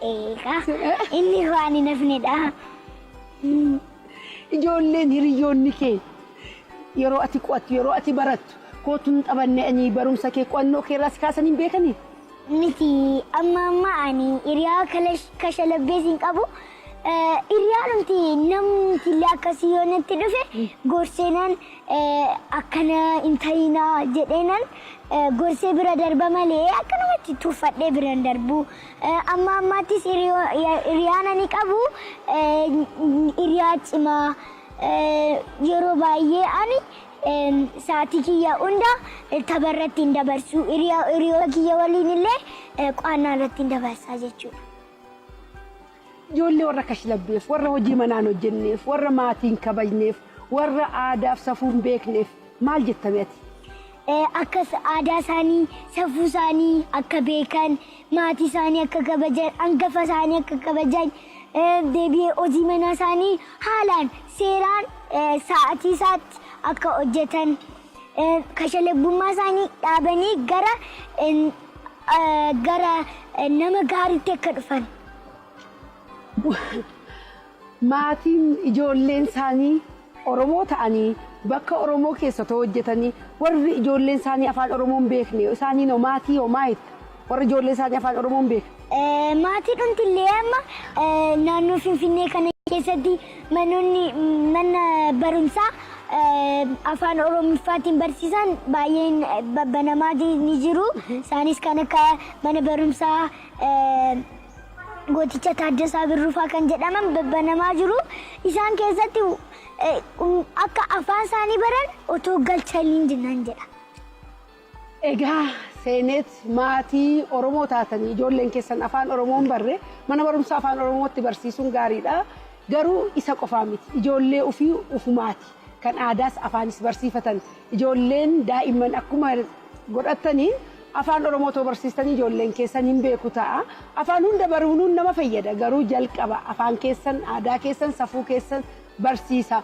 Eegaa inni waan hin hafnedha. Ijoolleen hiriyoonni kee yeroo ati qo'attu yeroo ati barattu kootu hin taphanne ani barumsa kee qo'annoo kee irraa si kaasan hin beekanii? Miti amma amma ani hiriyaa kalash kashalabbees hin qabu Hiryaanumti namumtillee akkasii yoo natti dhufe gorseenan akkana hin ta'iinaa jedheenan gorsee bira darba malee akkanumatti tuffadhee bira hin darbu. Amma ammaattis hiriyaana ni qabu hiriyaa cimaa yeroo baay'ee ani sa'aatii kiyya hunda tapha irratti hin dabarsu. Hiriyoota kiyya waliin illee qo'annaa irratti hin dabarsa jechuudha. Ijoollee warra kashlabbeef, warra hojii manaa hin hojjenneef, warra maatii hin kabajneef, warra aadaaf safuu hin beekneef maal jetta mee ati? Akka aadaa isaanii, safuu isaanii akka beekan, maatii isaanii akka kabajan, hangafa isaanii akka kabajan, deebi'ee hojii manaa isaanii haalaan seeraan sa'aatii isaatti akka hojjetan. Kashalaggummaa isaanii dhaabanii gara gara nama gaariitti akka dhufan. Maatiin ijoolleen isaanii Oromoo ta'anii bakka Oromoo keessa otoo hojjetanii warri ijoolleen isaanii afaan Oromoo hin beekne isaaniin hoo maatii hoo maal jetta? Warri ijoollee isaanii afaan Oromoon beeka. Maatii dhumtillee amma naannoo Finfinnee kana keessatti manoonni mana barumsaa afaan Oromiffaatiin barsiisan baay'een babbanamaa ni jiru. Isaanis kan akka mana barumsaa gooticha Taaddasaa Birrufaa kan jedhaman babbanamaa jiru. Isaan keessatti akka afaan isaanii baran otoo galchanii nan jedha. Egaa seeneet maatii Oromoo taatanii ijoolleen keessan afaan Oromoo hin barre mana barumsaa afaan Oromootti barsiisuun gaariidha. Garuu isa qofaa miti. Ijoollee ofii ufumaati. Kan aadaas afaanis barsiifatan. Ijoolleen daa'imman akkuma godhattaniin afaan Oromoo too barsiistanii ijoolleen keessan hin beeku ta'a. Afaan hunda baruunuun nama fayyada. Garuu jalqaba afaan keessan, aadaa keessan, safuu keessan barsiisa.